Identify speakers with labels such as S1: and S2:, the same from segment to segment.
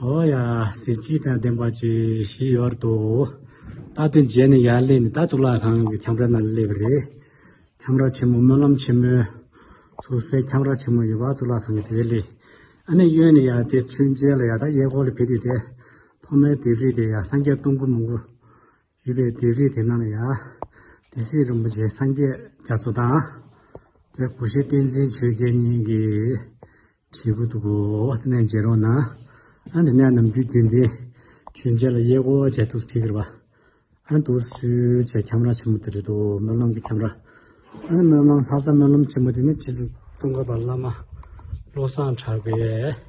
S1: ཨོ་ཡ། གཟི་བརྗིད་དང་ལྡན་པ་བཅས་ཞིག་ཡོད་དོ། ད་ལྟའི་མཇལ་ནས་ཡར་སླེབས་ནས་ད་གཙུག་ལག་ཁང་གི་ཁྱམས་ར་ན་སླེབས་པ་རེད། ཁྱམས་ར་ཆེན་མོ་སྨོན་ལམ་ཆེན་མོའི། སོ་སའི་ཁྱམས་ར་ཆེན་མོ་ཡོད་པ་གཙུག་ལག་ཁང་གི་དེ་ལས། ཨ་ནེ་གཡོན་ནས་ཡར་དེད་ཚུན་མཇལ་ལ་ཡར་ད་གཡས་སྐོར་ལ་ཕེབས་དུས་དེ། ཐོག་མའི་ལྡེབས་རིས་དེ་ཡང་སངས་རྒྱས་སྟོང་སྐུ་མང་པོ། ཡོད་པའི་སྡེ་རིས་དེ་རྣམས་ལ་ཡང། དེ་སྲིད་རིན་པོ་ཆེ་སངས་རྒྱས་རྒྱ་མཚོ་དང། དེ་སྐུ་ཤེས་བསྟན་འཛིན་ཆོས་རྒྱལ་གཉིས་ཀྱིས། བྲིས་འགོ་འདུག་གོ། དེ་ནས་མཇལ་རོགས་གནང། ཨ་འདི་ནས་ནམ་རྒྱུན་རྒྱུན་ལྡན། ཁྱོད་ཅག་ལ་དབྱེ་སྒོ་བྱས་འདུག་ཟེར་གི། ཨ་འདུག་སུས་བྱས་ཁྱམས་ར་ཆེན་མོ་དེ་རེད་འདུག་སྨོན་ལམ་གྱི་ཁྱམས་ར། ཨ་ནི་སྨོན་ལམ་ལྷ་ས་སྨོན་ལམ་ཆེན་མོ་དེ་ནི་སྤྱི་གཙུག་ཙོང་ཁ་པ་བླ་མ་བློ་བཟང་གྲགས་པས།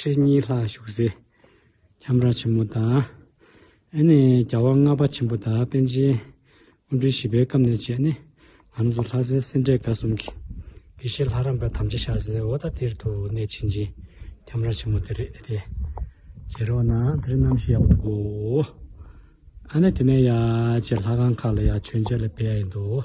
S1: ཁྲི་གཉིས་ལྷག་བཞུགས་སའི་ཁྱམས་ར་ཆེན་མོ་དང། ཨེ་ནས་རྒྱལ་བ་ལྔ་པ་ཆེན་པོ་དང་པཎ་ཆེན་དབོན་སྤྲུལ་བཞི་པའི་སྐབས་ནས་བྱས་ནས་ང་ཚོ་ལྷ་སའི་སེ་འབྲས་དགའ་གསུམ་གྱི་དགེ་བཤེས་ལྷ་རམས་པ་དམ་བཅའ་ཤར་སའི་ཨོ་ད་ཏིར་དུ་གནས་ཕྱིན་ཅིང་ཁྱམས་ར་ཆེན་མོ་དེ་རེད་དེ། བྱེད་རོགས་གནང་དེ་རིང་གནམ་གཤིས་ཡག་པོ་འདུག་གོ། ཨ་ནས་དེ་ནས་ཡ་ཆེ་ལྷ་ཁང་ཁག་ལ་ཡང་མཆོད་མཇལ་ལ་ཕེབས་ཡ་ཡིན་འདུག།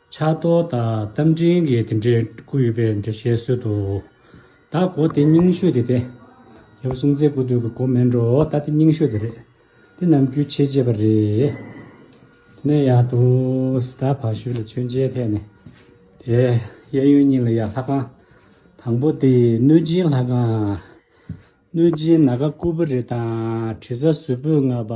S1: ཕྱག་རྡོར་དང་རྟ་མགྲིན་གྱི་དེ་འདྲའི་སྐུ་ཡོད་པའི་འདྲ་བཤད་སྲོལ་དུ། ད་སྒོ་དེ་རྙིང་ཤོས་དེ་སྟེ། རྒྱལ་པོ་སྲུང་བཙན་སྐུ་སྟོད་ཀྱི་སྒོ་མེད་འགྲོ་ད་དེ་རྙིང་ཤོས་དེ་རེད། དེ་རྣམས་རྒྱུད་ཆེ་རྗེས་པ་རེད། དེ་ནས་ཡང་དུ་ཟླ་བ་བཞི་ལ་མཆོད་མཇལ་ཐེངས་ནི་དེ། གཡས་གཡོན་གཉིས་ལ་ཡང་ལྷ་ཁང། དང་པོ་དེ་གནོད་སྦྱིན་ལྷ་ཁང། གནོད་སྦྱིན་ནཱ་ག་སྐུ་བུ་རི་དང་དྲི་ཟ་ཟུར་བུས་མངགས་པ།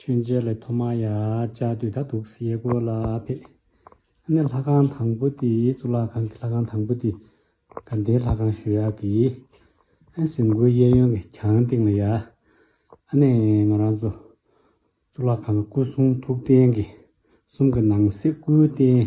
S1: ཁྱོད་མཇལ་ལས་ཐོག་མ་ཡ་བཅའ་དུས་ད་དུག་སེ་ཡས་གོ་ལ་ཕེད། ནས་ལྷ་ཁང་དང་པོ་དེ་གཙུག་ལག་ཁང་གི་ལྷ་ཁང་དང་པོ་དེ་ག་འདའི་ལྷ་ཁང་ཞུ་ཡག་གི། ཨ་ཟིན་གོའི་གཡས་གཡོན་གི་གྱང་སྟེང་ལ་ཡ། ནས་ང་རང་ཚོ་གཙུག་ལག་ཁང་གི་སྐུ་གསུང་ཐུགས་རྟེན་གི་གསུམ་གི་ནང་གསེས་སྐུའི་རྟེན།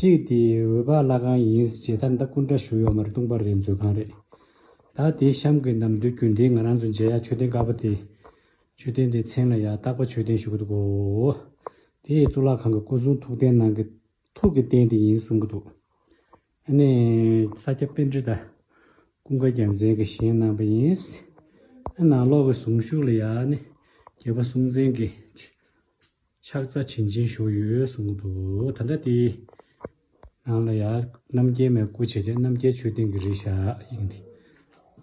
S1: གཅིག་དེ་འོད་པ་བླ་གང་ཡིན་ཞེས་ད་ལྟ་སྐུ་འདྲ་བཞུགས་ཡོད་མ་རེད་ལྟུང་བ་རེད་མཛོད་ཁང་རེད་ད་དེ་གཤམ་གྱི་ནམ་དུས་རྒྱུན་ལྡན་ང་རང་ཚོ་མཇལ་ཡག་མཆོད་རྟེན་དཀར་པོ་དེ། མཆོད་རྟེན་དེའི་མཚན་ལ་ཡག་རྟག་པ་མཆོད་རྟེན་ཞུ་གི་འདུག་གོ། དེ་ཡི་གཙུག་ལག་ཁང་གི་སྐུ་གསུང་ཐུགས་རྟེན་ནང་གི་ཐུགས་ཀྱི་རྟེན་དེ་ཡིན་གསུང་གི་འདུག་ཨ་ནི། ས་སྐྱ་དཔེ་འབྲི་དང་ཀུན་དགའ་རྒྱལ་མཚན་གྱིས་བཞེངས་གནང་བ་ཡིན། ཨ་ནང་ལོགས་ཀྱི་གཟུངས་གཞུག་ལ་ཡང་ནི་རྒྱལ་པོ་སུམ་རྩེན་གྱིས། ཕྱག་རྩ་བྱིན་ཅན་བཞུགས་ཡོད་གསུངས་འདུག་ད་ལྟ་དེའི་ནང་ལ་ཡང་རྣམ་རྒྱལ་མའི་སྐུ་བྱས་རྗེས་རྣམ་རྒྱལ་ཆོས་སྡིངས་ཀྱི་རིག་བྱ་ཡིན་ཏེ།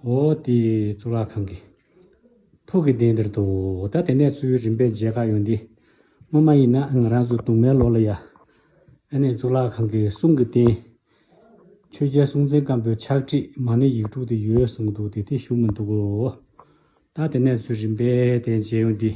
S1: འོ་དེས་གཙུག་ལག་ཁང་གི། ཕུག་གི་གདན་འདིར་འདུག་ད་དེ་ནས་གཙོ་བོའི་རིམ་པས་མཇལ་ཁ་ཡོང་སྟེ། སྔོན་མ་ཡིན་ན་ང་རང་ཚོ་དུང་མའི་ལོགས་ལ་ཡ། ཨ་ནེ་གཙུག་ལག་ཁང་གི་གསུང་གི་རྟེན། ཆོས་རྒྱལ་སྲོང་བཙན་སྒམ་པོའི་ཕྱག་བྲིས་མ་ནི་ཡིག་དྲུག་དེ་ཡོད་གསུངས་འདུག་དེ་དེ་བཞུགས་མི་འདུག་གོ། ད་དེ་ནས་ཚོའི་རིམ་པས་དེ་མཇལ་ཡོང་སྟེ།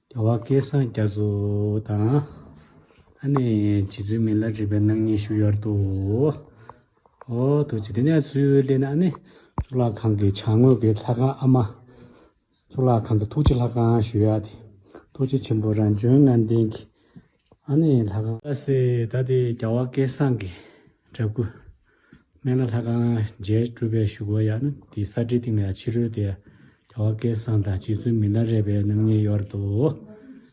S1: རྒྱལ་བ་སྐལ་བཟང་རྒྱ་མཚོ་དང། ཨ་ནེ་བྱིས་དུས་མི་ལ་བྲིས་པའི་སྣང་བརྙན་བཞུགས་ཡོད་དོ། ཨོ་ཐུགས་ཆེ་དེ་ནས་ཚུར་སླེབས་ནས་ཨ་ནེ། གཙུག་ལག་ཁང་གི་བྱང་ངོས་ཀྱི་ལྷ་ཁང་ཨ་མ། གཙུག་ལག་ཁང་གི་ཐུགས་རྗེ་ལྷ་ཁང་ཞུ་ཡག་དེ། ཐུགས་རྗེ་ཆེན་པོ་རང་བྱོན་ངང་ལྡན་གྱི། ཨ་ནི་ལྷ་ཁང། ལྷ་སའི་ད་ལྟའི་རྒྱ་བ་སྐལ་བཟང་གི་འདྲ་སྐུ། སྨན་བླ་ལྷ་ཁང་རྒྱས་སྤྲུལ་པའི་བཞུགས་སྒོ་ཡང་ནི་དེའི་ས་བྲིས་སྟེང་ལ་ཡང་ཕྱི་རོལ་ཏེ་རྒྱ་བ་སྐལ་བཟང་དང་རྗེ་བཙུན་མི་ལ་རས་པའི་རྣམ་གཉིས་གཡོར་ཏོ།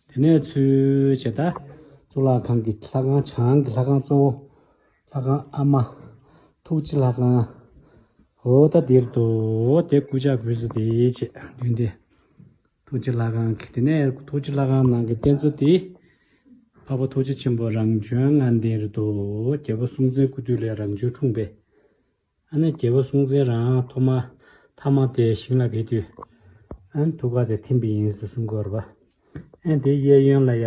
S1: དེ་ནས་ཚུལ་བྱེད་ད། གཙུག་ལག་ཁང་གི་ལྷ་ཁང་བྱང་གི་ལྷ་ཁང་གཙོ་བོ་ལྷ་ཁང་ཨ་མ། ཐུགས་རྗེ་ལྷ་ཁང། ཧོ་ད་དེར་དུ་དེ་སྐུ་ཕྱག་བུས་སུ་དེའི་ཆེད་བདུན་ཏེ། ཐུགས་རྗེ་ལྷ་ཁང་གི་དེ་ནས་ཐུགས་རྗེ་ལྷ་ཁང་ནང་གི་རྟེན་གཙོ་དེ། འཕགས་པ་ཐུགས་རྗེ་ཆེན་པོ་རང་བྱོན་ལྔ་ལྡན་རེད་དོ། རྒྱལ་བ་སྲོང་བཙན་སྐུ་དུས་ལས་རང་བྱོན་འཁྲུངས་པས། ཨ་ནེ་རྒྱལ་བ་སྲོང་བཙན་རང་ཐོག་མ་ཐ་མ་དེ་ཞིང་ལ་བས་དུས། ཨན་ཐུགས་ཀ་དེ་ཐིམ་པས་ཡིན་ཟེར་གསུངས་དགོས་ར་བ། ཨན་དེའི་གཡས་གཡོན་ལ་ཡ།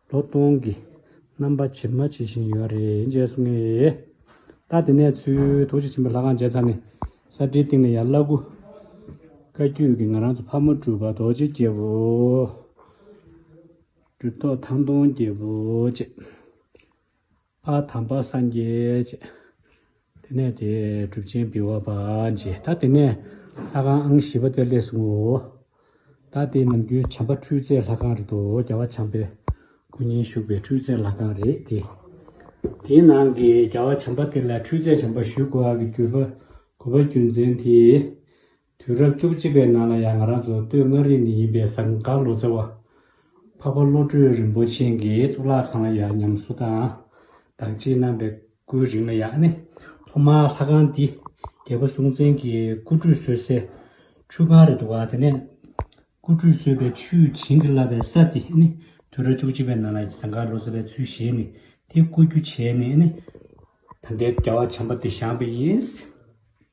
S1: ལོ་སྟོང་གི་རྣམ་པ་ཇི་མ་ཇི་བཞིན་ཡོད་རེད་བཅས་གསུང་ངེས་ཡོད། ལྟ་དེ་ནས་ཚུལ་དུ་གཞིས་ཆེན་པོ་ལྷ་ཁང་མཇལ་ཚར་ནས་ས་བྲིའི་སྟེང་ནས་ཡར་བླ་སྐུ། བཀའ་བརྒྱུད་ཀྱི་ང་རང་ཚོ་ཕ་མ་སྤྲུལ་པ་རྡོ་རྗེ་རྒྱལ་པོ། གྲུབ་ཐོག་ཐང་སྟོང་རྒྱལ་པོ་བཅས། པ་དམ་པ་སངས་རྒྱས་བྱེད། དེ་ནས་དེས་གྲུབ་ཆེན་བི་བ་པ་མཆི། ད་དེ་ནས་ལྷ་ཁང་ཨང་བཞི་པ་དེར་སླེས་སོང་ངོ། ད་དེ་ནམ་རྒྱུན་བྱམས་པ་འཕྲུལ་རྩལ་ལྷ་ཁང་རེད་དོ་རྒྱལ་བ་བྱམས་པའི་སྐུ་ཉིད་བཞུགས་པའི་འཕྲུལ་རྩལ་ལྷ་ཁང་རེད་དེ། དེའི་ནང་གི་རྒྱལ་བ་བྱམས་པ་དེ་ལ་འཕྲུལ་རྩལ་བྱམས་པ་ཞུས་དགོས་ཨ་གི་གུས་པ་གུས་པ་རྒྱུ་མཚན་དེས། དུས་རབས་བཅུ་གཅིག་པའི་ནང་ལ་ཡང་ང་རང་ཚོ་སྟོད་མངའ་རིས་ནས་ཡིན་པའི་ཟངས་དཀར་ལོ་ཙཱ་བ། འཕགས་པ་བློ་གྲོས་རིན་པོ་ཆེན་གྱི་གཙུག་ལག་ཁང་ལ་ཡང་ཉམས་གསོ་དང་བདག་གཅེས་གནང་པའི་སྐུའི་རིང་ལ་ཡང་ཨ་ནེ་ཐོག་མར་ལྷ་ཁང་འདི་རྒྱལ་པོ་སྲོང་བཙན་གྱི་སྐུ་ཁྲུས་གསོལ་སའི་ཆུ་ཁང་རེད་འདུག་དེ་ནས་སྐུ་ཁྲུས་གསོལ་བའི་ཆུས་བྱིན་གྱིས་བརླབས་པའི་ས་དེ་ཨ་ནེ་དུས་རབས་བཅུ་གཅིག་པའི་ནང་ལ་ཟངས་དཀར་ལོ་ཙཱ་བའི་ཚུལ་བཞེས་ནས་དེ་བརྐོ་རྒྱུ་བྱས་ནས་ཨ་ནེ། ད་ལྟའི་རྒྱལ་བ་བྱམས་པ་འདི་བཞེངས་པ་ཡིན།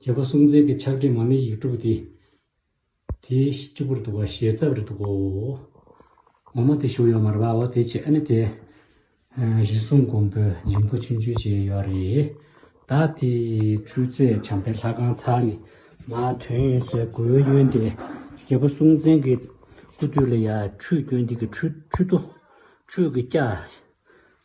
S1: བྱེད་པ་སུམ་རྩེན་གྱི་ཆགས་བྲལ་མ་ནི་ཡིག་དྲུག་སྟེ། དེའི་བཅུ་པོར་འདུག་པ་ཞལ་རྩ་བར་འདུག་གོ། འོག་མ་དེ་ཞུགས་ཡོད་མར་བའོ་དེ་ཆེ་ཨ་ནི་དེ། གཞི་གསུམ་མགོན་པོའི་འཇིམ་སྐུ་ཆུང་ཆུང་ཅན་ཡོད་རེ། ད་དེ་འཕྲུལ་རྩལ་བྱམས་པའི་ལྷ་ཁང་ཚར་ནི། མ་དོན་ཡོན་ཟས་གོས་གཡོན་ཏེ། བྱེད་པ་སུམ་རྩེན་གྱི་སྐུ་སྟོད་ལ་ཡང་ཁྲུས་གྱོན་འདི་གི་ཁྲུས་ཁྲུས་ཏོ། ཁྲུས་ཀྱི་སྐྱ།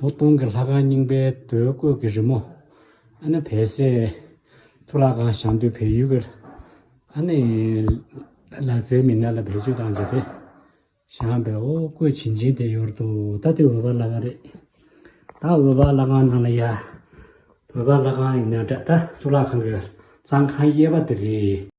S1: ལོ་སྟོང་གི་ལྷ་ཁང་རྙིང་པའི་རྡོའི་བརྐོས་ཀྱི་རི་མོ། ཨ་ནི་བལ་བསེ། ཐུ་ལག་ཁང་ཞང་སྟོད་བལ་ཡུལ་གྱི། ཨ་ནི། ལག་རྩལ་མི་སྣ་ལ་བེད་སྤྱོད་བཏང་རྗེས་དེ། ཞང་བལ་ཨོ་བརྐོས་བྱིན་ཅིང་དེ་ཡོར་དུ་ད་དེ་འོད་འབར་ལྷ་ཁང་རེད། ད་འོད་འབར་ལྷ་ཁང་ནང་ལ་ཡ། འོད་འབར་ལྷ་ཁང་ཡིན་ན་འདྲ་ད་ཐུ་ལག་ཁང་གི་གཙང་ཁང་གཡས་པ་དེ་རེད།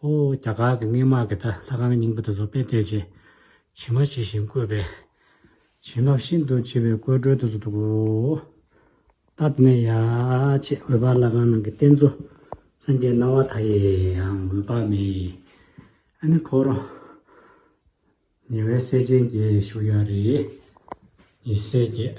S1: ཧོ། རྒྱ་གར་གྱི་སྔས་དམག་གིས་ད་ལྷ་ཁང་གི་སྙིང་པོ་དེ་ཚོ་དཔེ་བལྟས་རྗེས། བྱིན་མ་བྱེད་བཞིན་བཀོད་པས། བྱིན་རླབས་ཤིན་ཏུ་ཆེ་བའི་བཀོད་བཀྲོལ་དུ་སུ་འདུག་གོ། ད་དེ་ནས་ཡ། ཆེས་འོད་འབར་ལྷ་ཁང་ནང་གི་རྟེན་གཙོ། སེང་གེའི་རྣ་བ་ད་ཡིའང་འོད་དཔག་མེད། ཨ་ནི་ཕོ་རོ། ཉེ་བའི་སྲས་ཆེན་གྱིས་བཞུགས་ཡ་རེད། ཡེ་སྲས་ཀྱིས།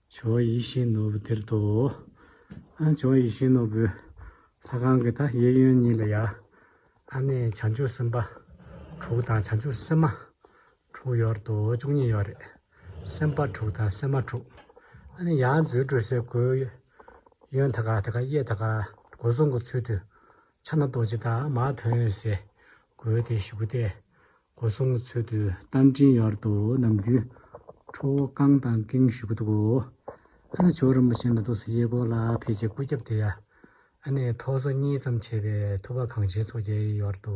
S1: བྱ་བ་ཡིད་བཞིན་ནོར་བུ་དེར་དོ། ཨ་བྱ་བ་ཡིད་བཞིན་ནོར་བུའི། ལྷ་གང་གི་ད་གཡས་གཡོན་གཉིས་ལ་ཡར། ཨ་ནི་བྱང་ཆུབ་སེམས་དཔའ་དྲུག་དང་བྱང་ཆུབ་སེམས་མ་དྲུག་ཡོར་དོ་བཅུ་གཉིས་ཡོར་རེ། སེམས་དཔའ་དྲུག་དང་སེམས་མ་དྲུག། ཨ་ནི་ཡང་མཛོད་སྤྲོས་བསྲེག་གོས་གཡོན་ཐ་ག་ཐ་ག་གཡས་ཐ་ག་སྒོ་སྲུང་གི་ཚུལ་དུ། ཕྱག་ན་རྡོ་རྗེ་དང་མ་དོན་བྱས། དགོས་ཏེ་བཞུགས་སྟེ་སྒོ་སྲུང་གི་ཚུལ་དུ་རྟ་མགྲིན་གཡོར་དུ་ནམ་རྒྱུན་ཁྲོ་བོ་རྐང་དང་ཀེང་བཞུགས་གི་འདུག་གོ། ཨ་ནི་ཇོ་རིན་པོ་ཆེ་འདི་དུག་སེལ་གཡས་སྐོར་ལ་ཕེབས་རྗེས་སྐུ་རྒྱབ་དེ་ཡ་ཨ་ནི་ཐོག་སོ་གཉིས་ཙམ་བྱས་པས་ཐུབ་པ་གངས་ཆེན་མཚོ་རྒྱལ་གཡོར་དུ།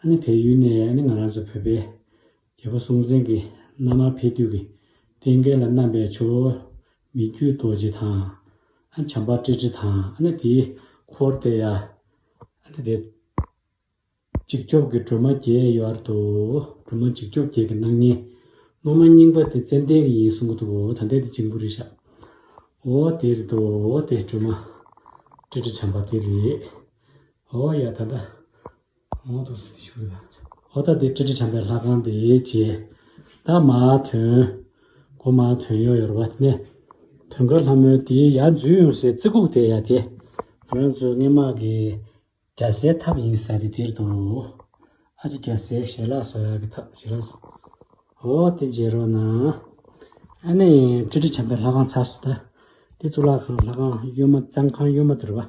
S1: ཨ་ནི་བལ་ཡུལ་ནས་ཨ་ནི་ང་རང་ཚོ་བོད་པའི་རྒྱལ་པོ་སྲོང་བཙན་གྱི་མནའ་མར་ཕེབས་དུས་ཀྱི་རྟེན་སྐལ་ལ་བསྣམས་པའི་ཆུ་བོ་མི་བརྒྱུད་རྡོ་རྗེ་དང། ཨ་ནི་བྱམས་པ་ཀྲི་ཀྲི་དང་ཨ་ནི་དེའི་འཁོར་སྟེ་ཡ། ཨ་ནི་དེ། འཇིགས་སྐྱོབ་ཀྱི་སྒྲོལ་མ་བརྒྱད་ཡོད་ཨར་དུ་སྒྲོལ་མ་འཇིགས་སྐྱོབ་བརྒྱད་ཀྱི་སྣང་བརྙན། སློབ་མ་རྙིང་པ་དེ་ཙན་དན་གྱི་ཡིན་གསུང་གི་འདུག་འོ་ད་འདི་དེ་འཇིང་པོ་རེད་ཤག། འོ་དེ་རེད་འདུག་འོ་དེ་སྒྲོལ་མ་ཀྲི་ཀྲི་བྱམས་པ་དེ་རེད། འོ་ཡ་ད་ད། གང་དུ་སྲིད་ཞུ་ལ་བྱ། ཨོ་ད་དེ་ཀྲི་ཀྲི་བྱམས་པའི་ལྷ་ཁང་དེ་བྱས། ད་མ་ཐོན། གོ་མ་ཐོན་ཡོ་ཡོར་བ་གནས། ཐོན་ཁར་ལྷ་མོའི་དེའི་ཡ་འཛུལ་ཡོང་སའི་རྩི་ཁུག་དེ་ཡ་དེ། རང་ཚོའི་སྔས་མ་གི་རྒྱ་སའི་ཐབ་ཡིན་ས་རེད་དེར་དུ། ཨ་ཅེ་རྒྱ་སའི་ཞལ་ལག་སོ་ཡ་གི་ཐབ་བྱེད་རོགས་སོ། ཨོ་དེ་འཇལ་རོགས་གནང། ཨ་ནེ་ཀྲི་ཀྲི་བྱམས་པའི་ལྷ་ཁང་ཚར་སོ་ད། དེ་གཙུག་ལག་ཁང་ལྷ་ཁང་གཡོན་མ་གཙང་ཁང་གཡོན་མ་དུ་རུ་བ།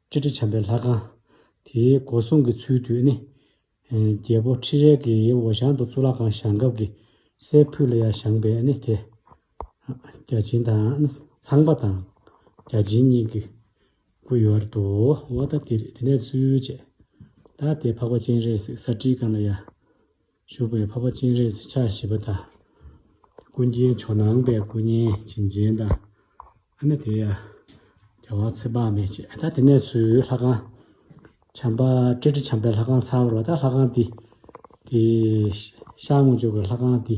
S1: སྤྱི་དྲིལ་བྱམས་པའི་ལྷ་ཁང། དེའི་སྒོ་སྲུང་གི་ཚུལ་དུ་ནི། རྒྱལ་པོ་ཁྲི་རལ་གྱི་འོ་ཞང་དུ་གཙུག་ལག་ཁང་བཞེངས་སྐབས་ཀྱི་སའི་ཕུད་ལ་ཡར་བཞེངས་པས་ནི་དེ། བརྒྱ་བྱིན་དང་ནི་ཚངས་པ་དང། བརྒྱ་བྱིན་གཉིས་ཀྱི་སྐུ་ཡོད་བར་དུའོ། དེ་ནས་ཚུལ་བཅད། བདག་དེས་འཕགས་པ་སྤྱན་རས་གཟིགས་ས་སྤྲིའི་སྒང་ལ་ཡར། བཞུགས་པའི་འཕགས་པ་སྤྱན་རས་གཟིགས་ཕྱག་བཞི་པ་དང། ཀུན་མཁྱེན་ཇོ་ནང་པའི་སྐུ་བརྙན་བྱིན་ཅན་དང། ཨ་ནི་དེ་ཡང་རྒྱལ་དབང་ཚེ་དཔག་མེད་ཅེས་ད་དེ་ནས་ཚུར་ལྷ་ཁང། བྱམས་པ་སྤྲེལ་ཁྲི་བྱམས་པའི་ལྷ་ཁང་ཚར་བར་ད་ལྷ་ཁང་འདི། དེའི་ཤར་ངོ་ཇོ་བོའི་ལྷ་ཁང་འདི།